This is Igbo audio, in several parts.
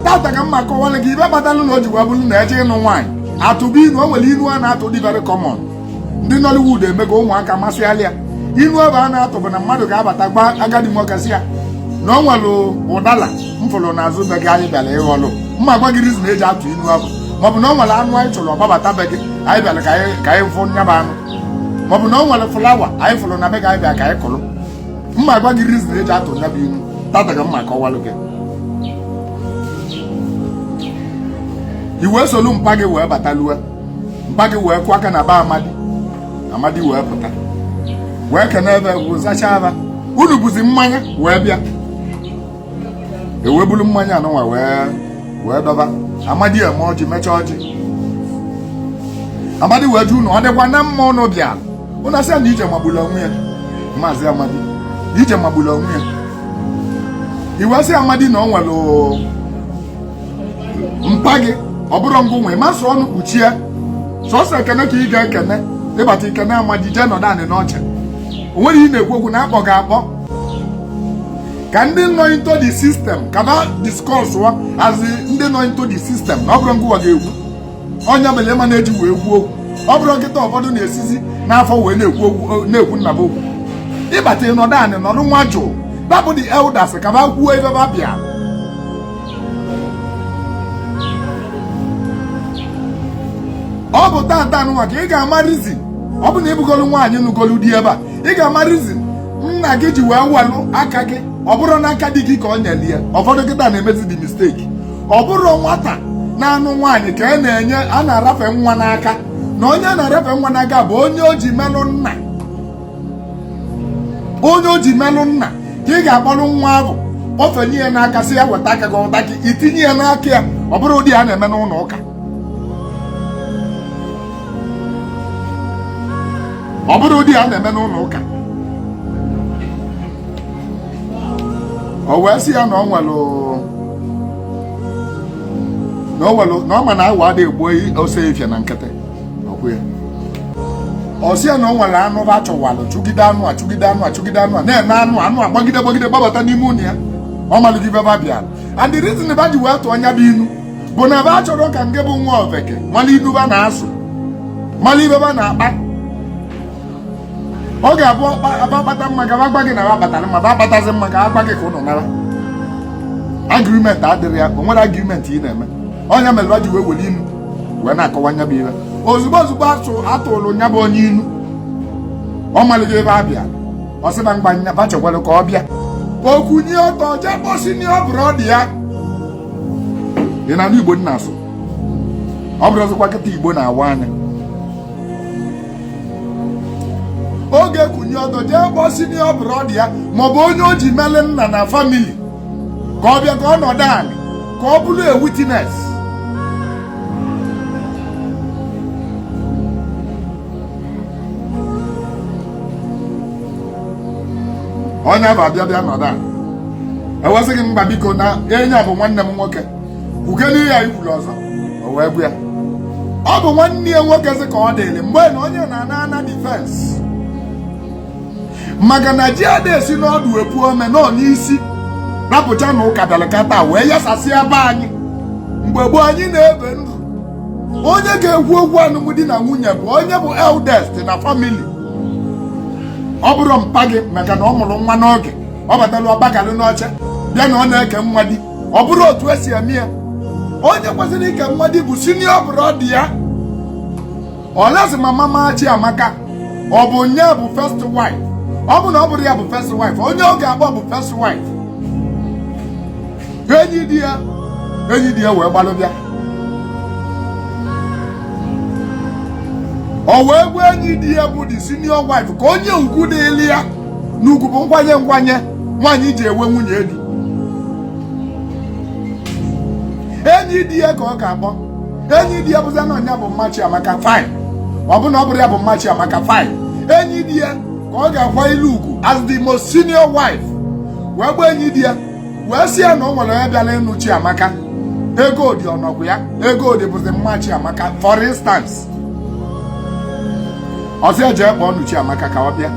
tata ka m ma akọwara gị ibe kpatalụ na o ji wee bụrụ na eje ịnụ nwaanyị atụba inu o nwere inu a na-atụ dị very common ndị Nollywood emego ụmụaka masịalị ya inu abụ a na-atụ bụ na mmadụ ga-abata gba agadi nwoke sị ya na ọ nwere ụdala m fụrụ n'azụ be gị anyị bịara ịghọlụ m ma agwa gị reason eji atụ inu abụ maọbụ na ọ nwere anụ anyị chụrụ ọ gbabata be gị anyị bịara ka anyị fụ nya bụ anụ maọbụ na ọ nwere flower anyị fụrụ na be gị anyị bịara ka anyị kụrụ m ma agwa gị reason eji atụ nya bụ inu tata ka m ma akọwalụ gị i wee solu mpa gị wee batalue mpa gị wee kụọ aka na be amadi amadi wee pụta wee kene ebe bụ zachaa aba unu buzi mmanya wee bịa e wee buru mmanya anụnwa wee wee dọba amadi emee ọjị mechaa ọjị amadi wee jụ ụnụ ọ dịkwa na mma ụnụ bịara ụnụ asị ya na ije magbulu onwe ya maazị amadi ije magbulu onwe ya i wee sị amadi na ọ nwere mpa gị ọ bụrọ ngụ nwa ma asụ ọnụ kpuchie sọsọ ekene ka ị ga-ekene ị bata i kene amadi jee nọdụ anị n'oche o nwerọ ihe na-ekwu okwu na akpọ gị akpọ ka ndị nọ into the system ka ba discuss wa as ndị nọ into the system na ọ bụrọ ngụ nwa ga-ekwu ọ nya mere ba na-eji wee kwuo okwu ọ bụrụ kịta ụfọdụ na-esizi n'afọ wee na-ekwu okwu na-ekwu nna ba okwu ị bata ị nọdụ anị nọdụ nwajụụ ba bụ the elders ka ba kwuo ibe ba bịa ọ bụ tata nwa ka ị ga-ama reason ọ bụ na ị bụgolu nwaanyị nụgolu di ebe a ị ga-ama reason nna gị ji wee welu aka gị ọ bụrọ n'aka di gị ka o nyere ya ụfọdụ kịta na-emezi the mistake ọ bụrụ nwata na-anụ nwaanyị ka a e na-enye a na-arafe nwa n'aka na onye a na-arafe nwa n'aka bụ onye o ji melụ nna onye o ji melụ nna ka ị ga-akpọrọ nwa ahụ kpọfenye ya n'aka sị ya weta aka gị o weta aka i tinye ya n'aka ya ọ bụrụ ụdị a na-eme n'ụlọ ụka ọ bụrụ ụdị a na-eme n'ụlọ ụka o wee sị ya na ọ nwere na ọ nwere na ọ ma na awọ adịghị agba ọsọ efifie na nkịtị ọ kwa ya ọ sị ya na ọ nwere anụ ba chụwalụ chụgide anụ a chụgide anụ a chụgide anụ a na-ene anụ anụ a gbagide gbagide gbabata n'ime ụlọ ya ọ maligo ibe ba bịara and the reason ba ji wee tụọ nya bụ inu bụ na ba achọrọ ka nke bụ nwa ofeke mala inu ba na-asụ mala ibe ba na-akpa ọ ga-abụ akpata mma ka ba agba gị na ba akpatara mma ba akpatazi mma ka agba gị ka ụnụ nala agreement adịrọ ya o nwerọ agreement ị na-eme ọ nya mere ba ji wee were inu wee na-akọwa nya bụ ihe ozugbo ozugbo atụ atụrụ nya bụ onye inu ọ maligo ibe a bịa ọ sị ba ngba nya ba chekwara ka ọ bịa o kunie ọtọ jee kposi nye ọ bụrụ ọ dị ya ị na-anụ igbo m na-asụ ọ bụrụzịkwa kịta igbo na-awa anya ọ ga-ekunie ọtọ jee kpọọ senior brother ya maọbụ onye o ji mele nna na family ka ọ bịa ka ọ nọdụ anị ka ọ bụrụ a witness onye bụ abịa bịa nọdụ e wee sị gị mba biko na onye a bụ nwanne m nwoke kwukene ihe i kwuru ọzọ o wee gwa ya ọ bụ nwanne ya nwoke sị ka ọ dịrị mgbe na onye na-ana ana defence maka na ji ada esi n'ọdụ epu ome na ọ n'isi rapụcha na ụka bịara kata wee yasasịa be anyị mgbe gboo anyị na-ebi ndụ onye ga-ekwu okwu alụmdi na nwunye bụ onye bụ eldest na family ọ bụrọ mpa gị maka na ọ mụrụ nwa n'oge ọ batara ọ gbagalụ n'oche bịa na ọ na-eke nwa di ọ bụrọ otu e si eme ya onye kwesịrị ike nwa di bụ senior brother ya o luzie ma mama Chiamaka ọ bụ nya bụ first wife ọ bụ na ọ bụrọ ya bụ first wife onye ọ ga-akpọ bụ first wife enyi di ya enyi di ya wee gbalụ bịa o wee kpọọ enyi di ya bụ the senior wife ka o nye ugwu dịlị ya na ugwu bụ nkwanye nkwanye nwaanyị ji enwe nwunye di enyi di ya ka ọ ga-akpọ enyi di ya bụzi na ọ nya bụ mma Chiamaka fine ọ bụ na ọ bụrọ ya bụ mma Chiamaka fine enyi di ya ka ọ ga-akwanyelụ ugwu as the most senior wife wee kpọọ enyi di ya wee sị ya na o nwere onye bịara ịnụ Chiamaka Egodi ọ nọkwụ ya Egodi bụzi mma Chiamaka for instance ọ sị ya jee kpọọnụ Chiamaka ka ọ bịa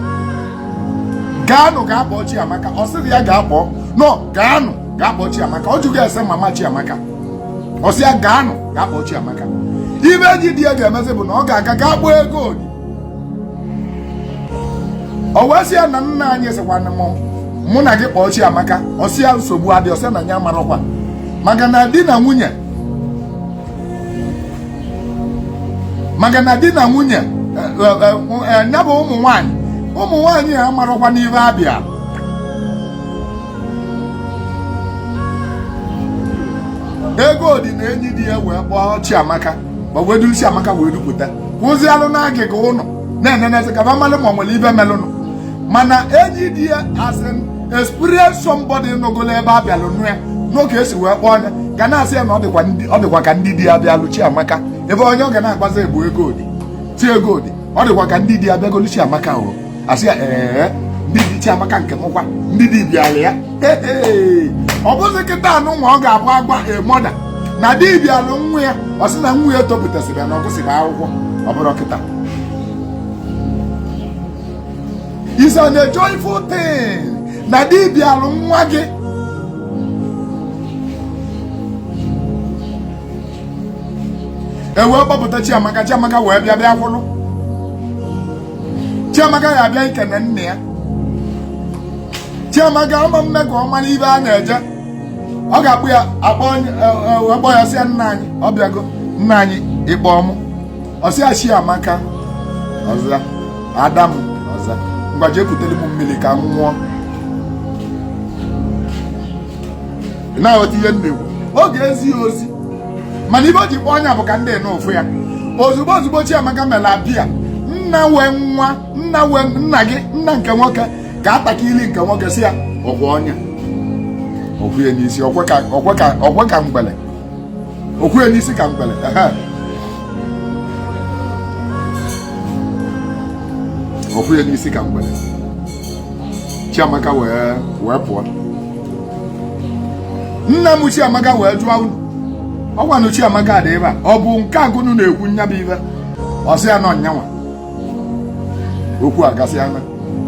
gaanụ gaa kpọọ Chiamaka ọ sịrọ ya gaa kpọọ no gaanụ gaa kpọọ Chiamaka ọ jụghị ese mama Chiamaka ọ sị ya gaanụ gaa kpọọ Chiamaka ife enyi di ya ga-emezi bụ na ọ ga-aga gaa kpọọ Egodi o wee sị ya na nna anyị sịkwanụ m mụ na gị kpọọ Chiamaka ọ sị ya nsogbu adịrọ ọ sị na ya amarakwa maka na di na nwunye maka na di na nwunye ya eh, eh, eh, bụ ụmụ nwanyị ụmụ nwanyị amarakwa na ihe abịa Egodi na enyi di ya wee kpọọ Chiamaka ma wee duru Chiamaka wee dupụta kwụzialụ n'agịga ụlọ na-enenezi ka amalụ ma ọ nwere ife melụnụ mana enyi di ya as an experience somebody nọgolu ebe a bịalụ nụọ ya n'oge e si wee kpọọ nya ga na-asị ya na ọ dịkwa ka ndị di abịalụ Chiamaka ife onye a ga na-agwazi ya bụ Egodi sị Egodi ọ dịkwa ka ndị di abịagolu Chiamaka o a sị ya ee ndị di Chiamaka nke mụkwa ndị di bịalụ ya ọ bụzi kịtaa nụnwa ọ ga-abụ a gwa a mother na di bịalụ nwa ya ọ sị na nwa ya topụtasịrị ya na ọ gụsịrị akwụkwọ ọ bụrụ kịta is an a joyful thing na di bịalụ nwa gị e wee kpọpụta chiamaka chiamaka wee bịa bịa kwụrụ Chiamaka ya abịa ekene nna ya Chiamaka ama mme ka ọ mara ibe a na-eje ọ ga-akpọ ya ọ kpọọ e, e, ya sị ya nna anyị abịago nna anyị ị kpọọ mụ ọ sị ya Chiamaka ọ za ada m ọ za ngwa jee kutere m mmiri ka m nwụọ ị na-aghọta ihe m na-ekwu ọ ga-ezi ya ozi mana ibe o ji kpọọ nya bụ ka ndị nụ fụ ya ozugbo ozugbo Chiamaka mere abịa nna wee nwa nna wee nna gị nna nke nwoke ka ataka ili nke nwoke sị ya ọkwa nya o kwe ya n'isi o kwe ka o kwe ka o kwe ka ngwele o kwe ya n'isi ka ngwele ehe. o kwe ya n'isi ka ngwele Chiamaka wee wee pụọ nna m Chiamaka wee jụọ unu ọkwanụ Chiamaka dị ebe a ọ bụ nke a ka unu na-ekwu nya bụ ibe ọ sị ya na ọ nyanwa okwu agasịa na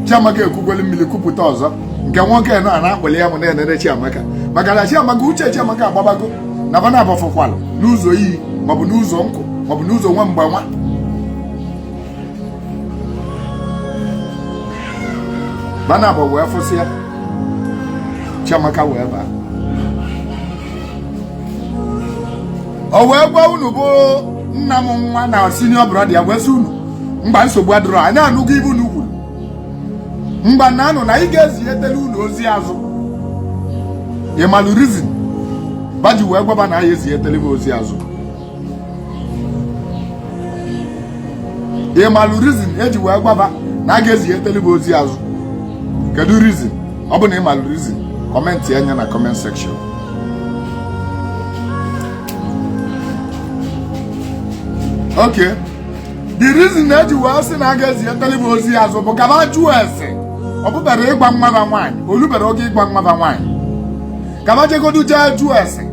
Chiamaka ekukwala mmiri kupụta ọzọ nke nwoke nọ a na-akpọli ya m na-enere Chiamaka maka na Chiamaka uche Chiamaka agbabago na ba naabọ afụkwala n'ụzọ iyi maọbụ n'ụzọ nkụ maọbụ n'ụzọ nwa mgbe nwa ba naabọ wee fụsịa chiamaka wee baa o wee gwa unu bụ nna m nwa na senior brother ya wee sị unu ngwa nsogbu adịrọ anyị anụgo ibe unu kwuru ngwa naanụ na anyị ga-ezinyetele unu ozi azụ ị malụ reason ba ji wee gwa ba na anyị ezinyetele be ozi azụ ị malụ reason e ji wee gwa ba na a ga-ezinyetele be ozi azụ kedu reason ọ bụ na ị malụ reason commentịa nya na comment section ok the reason na e ji wee sị na a ga-ezinyetele be ozi azụ bụ ka ba jụọ ese ọ bụberọ ịgba mmaba nwaanyị o lubero oge ịgba mmaba nwaanyị ka ba jegodu jee jụọ ese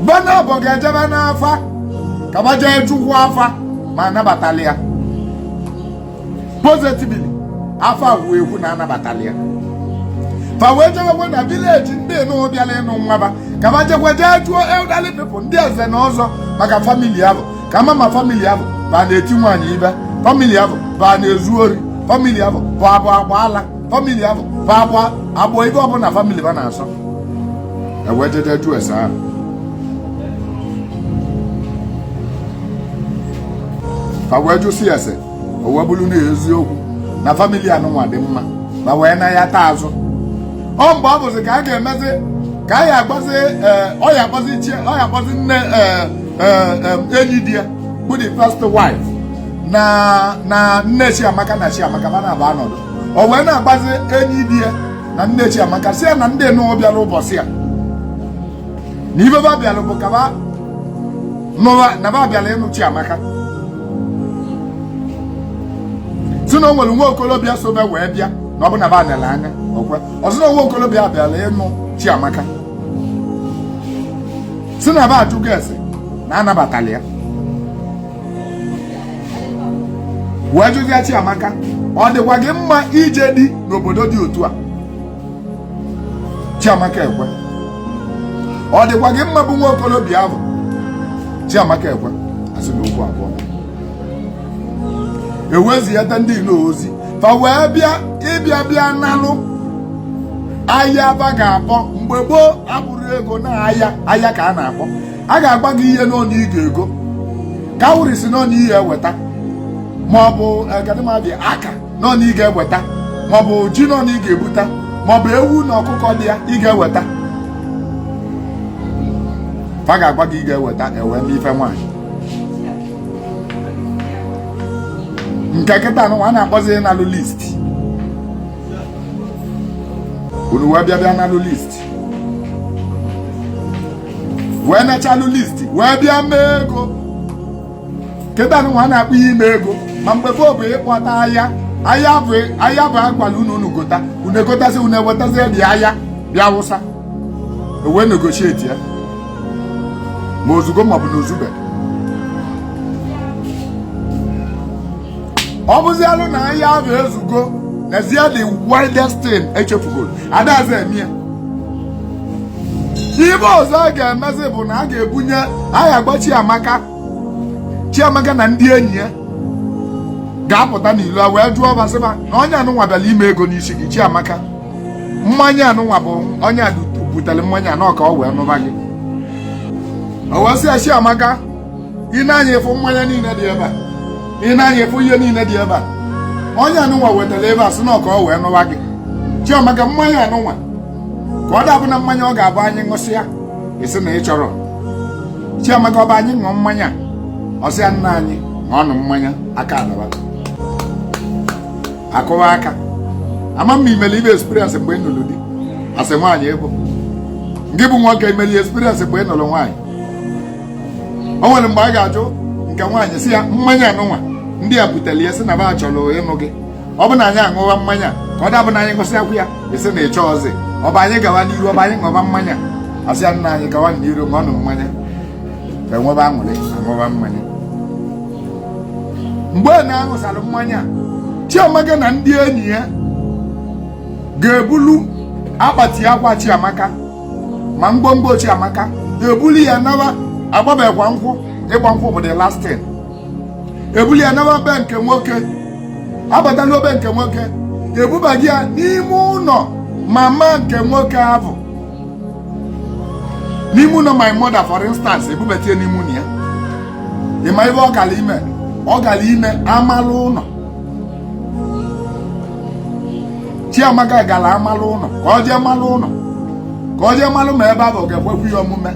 ba naabọ ga-ejebe n'afa ka ba jee jụkwuo afa ma anabatala ya positively afa kwuo ekwu na anabatala ya fa wee jewekwe na vileji ndị nụ bịara ịnụ nwa ba ka ba jekwe jee jụọ elderly people ndị eze na ọzọ maka famili ahụ ka ma ma famili ahụ ba na-eti nwaanyị ife famili ahụ ba na-ezu ori famili ahụ bụ abụ agba ala famili ahụ fa akwa agbọ ife ọbụla famili ba na-asọ ewee jeje jụọ ese ahụ fa wee jụsịa ese o wee bụrụ na eziokwu na famili anụnwa dị mma fa wee nayata azụ ọ mgbe ọ bụzi ka a ga-emezi ka a ya akpọzi ọ ya akpọzi Chia ọ ya akpọzi nne enyi di ya bụ the first wife na na nne Chiamaka na Chiamaka ba naabọ anọdụ o wee na-agwazi enyi di ya na nne Chiamaka sị ya na ndị nụwa bịara ụbọchị a na ife ba bịara bụ ka ba nụwa na ba bịara ịnụ Chiamaka sị na o nwere nwa okorobịa so ba wee bịa na ọ bụ na ba nere anya okwe ọ sị na nwa okorobịa bịara ịnụ Chiamaka sị na ba ajụgo ese na anabatala ya wee jụzie Chiamaka ọ dịkwa gị mma ije di n'obodo dị otu a Chiamaka ekwe ọ dịkwa gị mma bụ nwa okorobịa ahụ Chiamaka ekwe a sị na okwu abụọ e wee ziyata ndị nụ ozi fa wee bịa ịbịa bịa nalụ ahịa ba ga-akpọ mgbe gboo abụrọ ego na ahịa ahịa ka a na-akpọ a ga-agwa gị ihe n'one ị ga-ego cowries n'one ị ya-eweta maọbụ gadịmadị aka n'one ị ga-eweta maọbụ ji n'one ị ga-ebuta maọbụ ewu na ọkụkọ olia ị ga-eweta fa ga-agwa gị ị ga-eweta e wee mee ife nwaanyị nke kịta nụnwa a na-akpọzi n'alụ list unu wee bịa bịa nalụ list wee nachalụ list wee bịa mee ego kịta nụnwa a na-akpọ ya ime ego ma mgbe gboo bụ ịkpọta ahịa ahịa ahụ ahịa ahụ a gwalụ unu unu gota unu egotazi unu ewetazie ahịa bịa wụsa ewee negotiate ya ma o zugo maọbụ na o zube ọ bụzialụ na anyị ahụ ezugo n'ezie the oldest thing echefugoro adazi eme ibe ọzọ a ga-emezi bụ na a ga-ebunye anyị agba chiamaka chiamaka na ndị enyi ya ga-apụta n'ilo a wee jụọ ba sị ba na onye anụnwa bịara ime ego n'isi gị chiamaka mmanya anụnwa bụ onye a butere mmanya anọ ka ọ wee nụba gị o wee sị ya chiamaka ị nee anya ị fụ mmanya niile dị ebe a ị nee anya ị fụ ihe niile dị ebe a onye anụnwa wetara ebe a sị na ọ ka ọ wee nụwa gị chiamaka mmanya anụnwa ka ọ da abụ na mmanya ọ ga-abụ anyị ṅụsịa i sị na ị chọrọ chiamaka ọ bụ anyị ṅụọ mmanya ọ sị ya nna anyị ṅụọnụ mmanya aka alaba akụwa aka ama m i meli ibe experience mgbe ị nụrụ di as nwaanyị ọ bụ ngị bụ nwoke i meli experience mgbe ị nụrụ nwaanyị o nwere mgbe a ga-ajụ nke nwaanyị sị ya mmanya anụnwa ndị a butere ya sị na ba chọrọ ịnụ gị ọ bụ na anyị aṅụba mmanya ka ọ da abụ na anyị ṅụsịakwa ya i sị na ị chọọzị ọ bụ anyị gawa n'iru ọ bụ anyị ṅụba mmanya ọ sị ya nna anyị gawa n'iru ṅụọnụ mmanya e nwebe aṅụrị aṅụba mmanya mgbe ọ na-aṅụsara mmanya Chiamaka na ndị enyi ya ga-ebulu akpati akwa Chiamaka ma ngwongwo chiamaka ebulu ya nawa agbabekwa nkwụ ịgba nkwụ bụ the last thing ebulu ya nawa be nke nwoke abata luo be nke nwoke ebubaga ya n'ime ụlọ mama nke nwoke ahụ n'ime ụlọ my mother for instance ebubata ya n'ime ụlọ ya ị ma ibe ọ gara ime ọ gara ime amalụ ụlọ Chiamaka gara amalụ ụlọ ka ọ jee malụ ụlọ ka ọ jee malụ ma ebe ahụ ọ ga-ekwekwa ya omume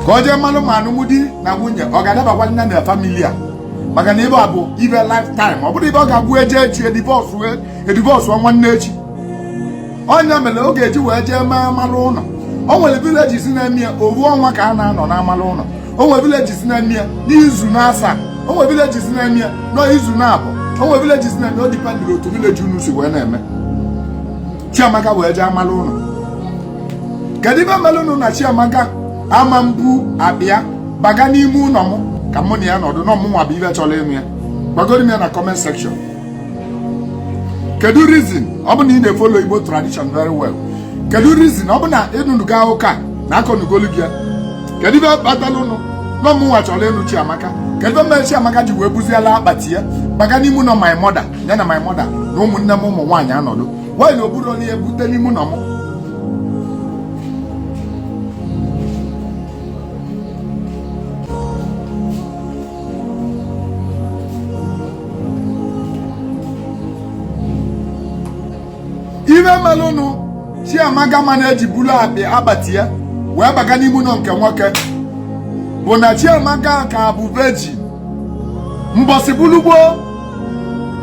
ka ọ jee malụ ma alụmdi na nwunye ọ ga-adabakwalụ ya na family a maka na ibe a bụ ibe lifetime ọ bụrọ ibe ga-abụ eje echi edivọsụ edivọsụ nwanne echi ọ ya mere ọ ga-eji wee jee mee amalụ ụlọ o nwere village si na-eme ya ofu ọnwa ka a na-anọ n'amalụ ụlọ o nwere village si na-eme ya n'izu naasaa o nwere village si na-eme ya n'izu naabọ o nwere village si na-eme o dipendịrị otu village unu si wee na-eme chiamaka wee jee amalụ ụlọ kedu ibe merenụ na chiamaka ama mbu abịa baga n'ime ụlọ m ka mụ na ya nọdụ na ọ mụnwa bụ ibe chọrọ ịnụ ya gwagodu m ya na comment section kedu reason ọ bụ na ị na-efolo igbo tradition very well kedu reason ọ bụ na ị nụnugo ya ọ bụkwa na akọnugolu gị ya kedu ibe kpataranụ na ọ mụnwa chọrọ ịnụ chiamaka kedu ibe mere chiamaka ji wee buziela akpati ya gbaga n'ime ụlọ my mother ya na my mother na ụmụnne m ụmụ nwaanyị anọdụ why na o burọ ya bute n'ime ụlọ m ife melụnụ chiamaka ma na-eji bulu akpị akpati ya wee baga n'ime ụnọ nke nwoke bụ na chiamaka ka bụ virgin mbọsị bụlụ gboo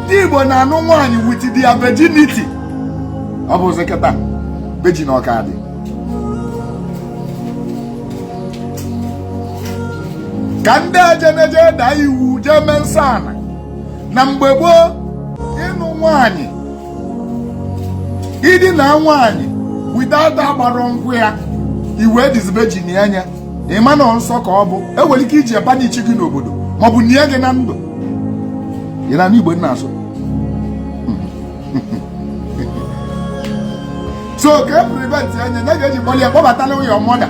ndị igbo na-anụ nwaanyị with their virginity ọ bụzi kịta virgin na ọ ka dị ka ndị ejeneje daa iwu jee mee nsọ ana na mgbe gboo ịnụ nwanyị idina nwanyị without agbarọ nkwụ ya i wee disvirginia ya ị ma na nsọ ka ọ bụ enwere ike iji ya banishie gị n'obodo maọbụ nie gị na ndụ ị na-anụ igbo m na-asụ so ka e preventie ya ka e ji kpọlị ya kpọbatalụ your mother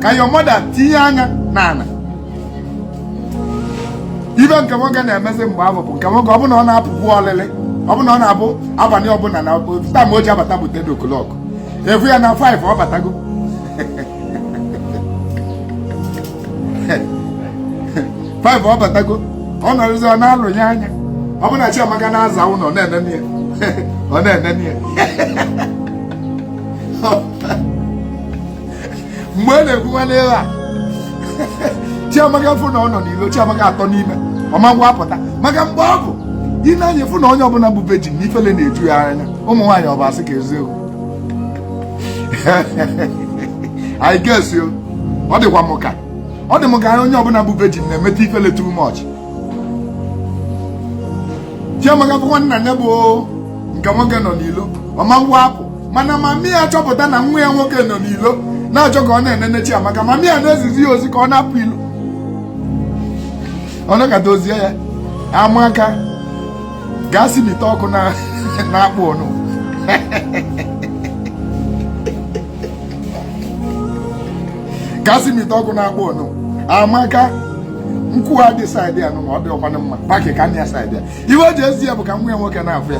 ka your mother tinye anya n'ana ife nke nwoke na-emezi mgbe afụ bụ nke nwoke ọ bụ na ọ na-apụbu olili ọ bụ na ọ na-abụ abanị ọbụna na time o ji abata bụ 10 o'clock ị fụ ya na 5 ọ batago five ọ batago ọ nọrọzi ọ na-alọ ya anya ọ bụ na Chiamaka na-aza ụnọ ọ na-enene ya ọ na-enene ya mgbe a na-ekwu nwanne ya Chiamaka fụ na ọ nọ n'ilo Chiamaka atọ n'ime ọ ma nwa apụta maka mgbe afụ ị nee anya fụ na onye ọbụna bụ virgin na ifele na-eju ya anya ụmụ nwaanyị ọ bụ asị ka eziokwu I guess so. Ọ dịkwa m ka ọ dị m ka onye ọbụna bụ virgin na-emeta ifele too much. Chiamaka fụkwa na ya bụ nke nwoke nọ n'ilo ọ ma nwa apụ mana mami ya chọpụta na nwa ya nwoke nọ n'ilo na-achọ ka ọ na-enene Chiamaka mami ya na-ezizi ya ozi ka ọ na-apụ ilo ọ nọkata o zie ya Amaka gaa si n'ite ọkụ na-akpụ ọnụ gaa si n'ite ọkụ na-akpụ ọnụ amaka nkụ a dị side a na ọ dịrọkwanụ mma pakịkọ na side a ife o ji ezi ya bụ ka nwa ya nwoke na-afụ ya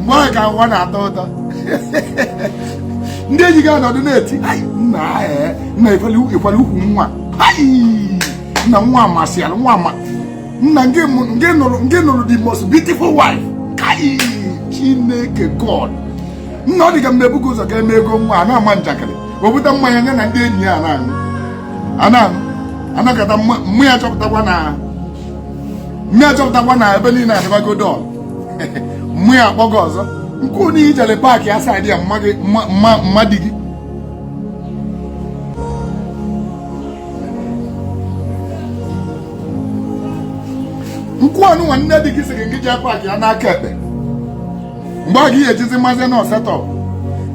mgbe afụ ka ụwa na-atọ ụtọ ndị enyi gị anọdụ na-eti nna eh, nna ịkwala ukwu nwa nna nwa amasịala nwa amaka nna nke nụrụ the most beautiful wife kai chineke god nna ọ dị ka mgbe ebuka ụzọ ka eme ego nwa a na-ama njakịrị wepụta mmanya ya na ndị enyi ya na-aṅụ a na-anọkata mami ya chọpụtakwa na mami ya chọpụtakwa na ebe niile adịbago dull mụ ya akpọ gị ọzọ nke onye i jele pack asaa dị ya mma di gị nkwụ ọnụ nwa nne di gị sịrị gị jee pack ya n'aka ekpe mgbe a ga-ejizi mazi na ọsetọ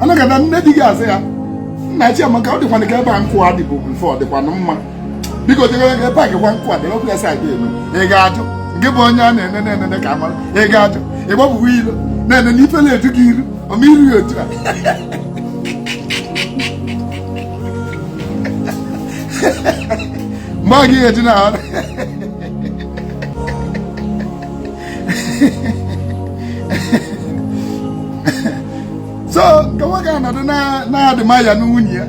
anagada nne di gị azị ya nna chiamaka ọ dịkwana ka ebe a nkwụ adịbụ mfe ọ dịkwana mma biko jegara gị pack gwa nkụ ada okwu ya si aga elu ị ga-ajụ gị bụ onye a na-ene na-enene ka a mara ị ga-ajụ ị gbapụwa ilo na-ene na ife na-eju gị iru ọma iru ya otu a mgbe ọ gị ga-eji na ahụ so nke nwoke anọdụ na-adịma ya na nwunye ya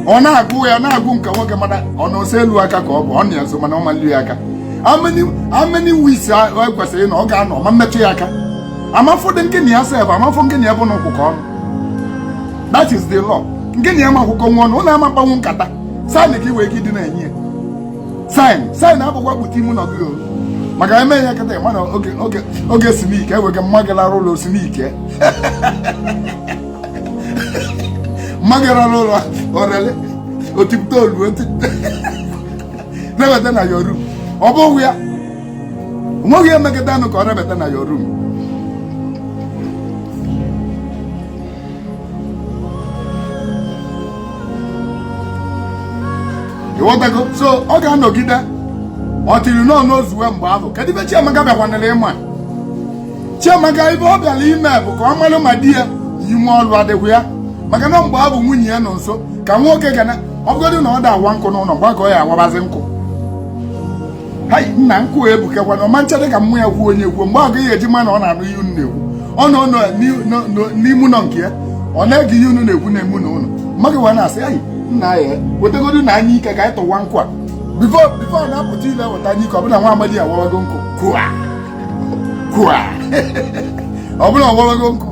ọ na-agụ ya na-agụ nke nwoke mana ọ na ose elu aka ka ọ bụ ọ na ya so mana ọ mali ya aka ameni wis ekwesịrị na ọ ga-anọ ma mmetụ ya aka amafọ dị nke na ya sef amafọ nke na ya bụ na ụkwụ ka ọnụ that is the law nke na ya ma akwụkwọ nwa ọnụ ụlọ ama mkpanwu nkata sign ka iwe ike ịdị na-enye ya sign sign abụkwa kpụta imu na ọgụgụ maka eme ya kata mana oge oge oge sinike ewege mma gị lara ụlọ sinike mmadụ gara n'ụlọ ọrịa o tipụta olu rebata na ya room ọ bụghị ya o nweghị ihe mmekọta anụ ka ọ rebata na ya room ị ghọtago so ọ ga-anọgide until nọọ n'ozuwe mgbe ahụ kedu ife Chiamaka bịakwanịrị ime chiamaka ife ọ bịara ime bụ ka ọ malụ ma di ya ume ọlụ adịkwa ya maka na mgbe ọ bụ nwunye ya nọ nso ka nwoke ga na ọ bụgodị na ọ da awa nkụ n'ụlọ gbakọ ya awabazi nkụ ha nna nkụ ebukekwa na ọma ncha dị ka mmụ ya kwuo onye kwuo mgbe ọ gaghị eji ma na ọ na-anụ ihe unu na-ekwu ọ nọ n'ime ụlọ nke ya ọ na-ege ihe unu na-ekwu na emu na ụlọ mmadụ wee na-asị anyị nna ya wetegodu na anyụike ka anyị tụwa nkụ a before before na-apụta ile weta anyụike ọ bụlụ nwa amadi ya wawago nkụ kụa kwa ọ bụlụ ọ wawago nkụ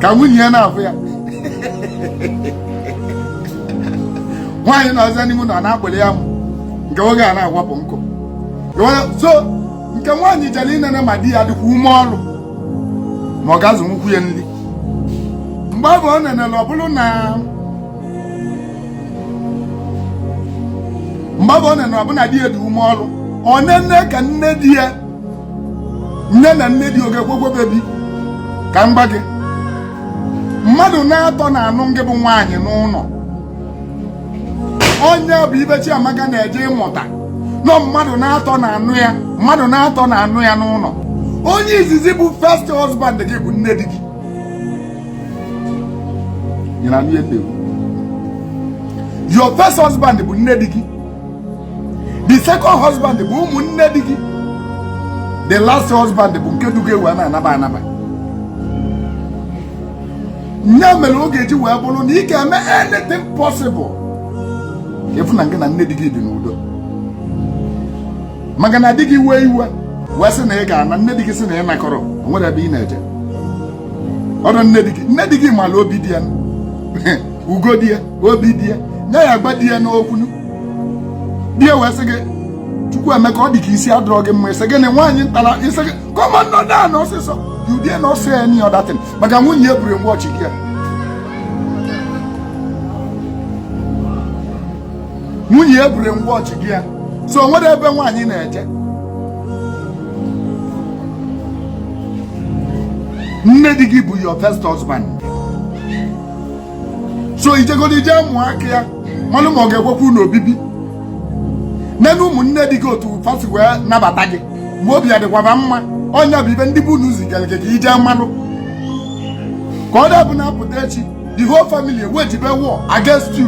ka nwunye ya na-afụ ya nwaanyị na-esi n'ime ụnọ na-akpụrụ ya amụ nke nwoke a na-awapụ nkụ so nke nwaanyị jere inene ma di ya dịkwa ume ọrụ ma ọ ga-azụnwukwu ya nri mgbe ọ bụ ọ nenere ọ bụrụ na mgbe ọ bụ ọ na-enọ ọbụna di ya dị ume ọrụ ọ nene ka nne di ya nene nne di ọ ga-ekwekwa obibi ka m gwa gị mmadụ na-atọ na-anụ ngị bụ nwaanyị n'ụnọ ọ nya bụ ife Chiamaka na-eje ịmụta na ọ mmadụ na-atọ na-anụ ya mmadụ na-atọ na-anụ ya n'ụnọ onye izizi bụ first husband gị bụ nne di gị your first husband bụ nne di gị the second husband bụ ụmụnne di gị the last husband bụ nke du gị wee na-anaba anaba nya mere ọ ga-eji wee bụrụ na ị ga-eme anything possible ka ị fụ na ngị na nne di gị dị n'udo maka na di gị wee iwe wee sị na ị ga-ana nne di gị sị na ị nakọrọ nwerọ ebe ị na-eje ọrụ nne di gị nne di gị mara obi di ya ugo di ya obi di ya nye ya agba di ya n'okwu di ya wee sị gị Chukwuemeka ọ dị ka isi adọrọ gị mma ị sị gịnị nwaanyị nkịta ra isi gị come on nọdụ ana ọsịsọ you dare not say any other thing maka nwunye ya buru watch gị nwunye ya buru watch gị ya so o nwerọ ebe nwaanyị na-eje nne di gị bụ your first husband so i jegolu ije mụọ aka ya malụ ma ọ ga-ekwekwa unu obibi nene ụmụnne di gị otu fa si wee nabata gị ma obi adịkwa fa mma ọ nya bụ ife ndị be unu zigara gị ka i je malụ ka ọ da-abụ na a pụta echi the whole family ewejibe war against you